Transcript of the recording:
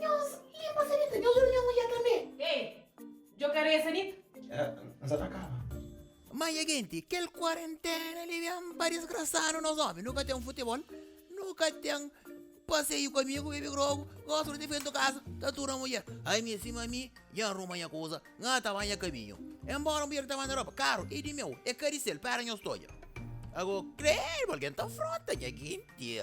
Nhos limpa sanita, nhos ora nha mulher tanbe. Ê, djo ka rê sanita. Ê, nsa ta kaba. Manha genti, kel kuarentena li ben pa disgrasanu nos omi. Nu ka ten futebol, nu ka ten paseiu ku amigu, bebe grogu, gosi di difentu kasa, ta tur na mulher. Ai mi, sima mi, dja ruma nha kuza, N ka ta ba nha kabinhu. Enbora mulher ta manda ropa karu, i di meu, e ka di sel, pera nhos ta odja. Ago, krédu, algen ta fronta nha genti.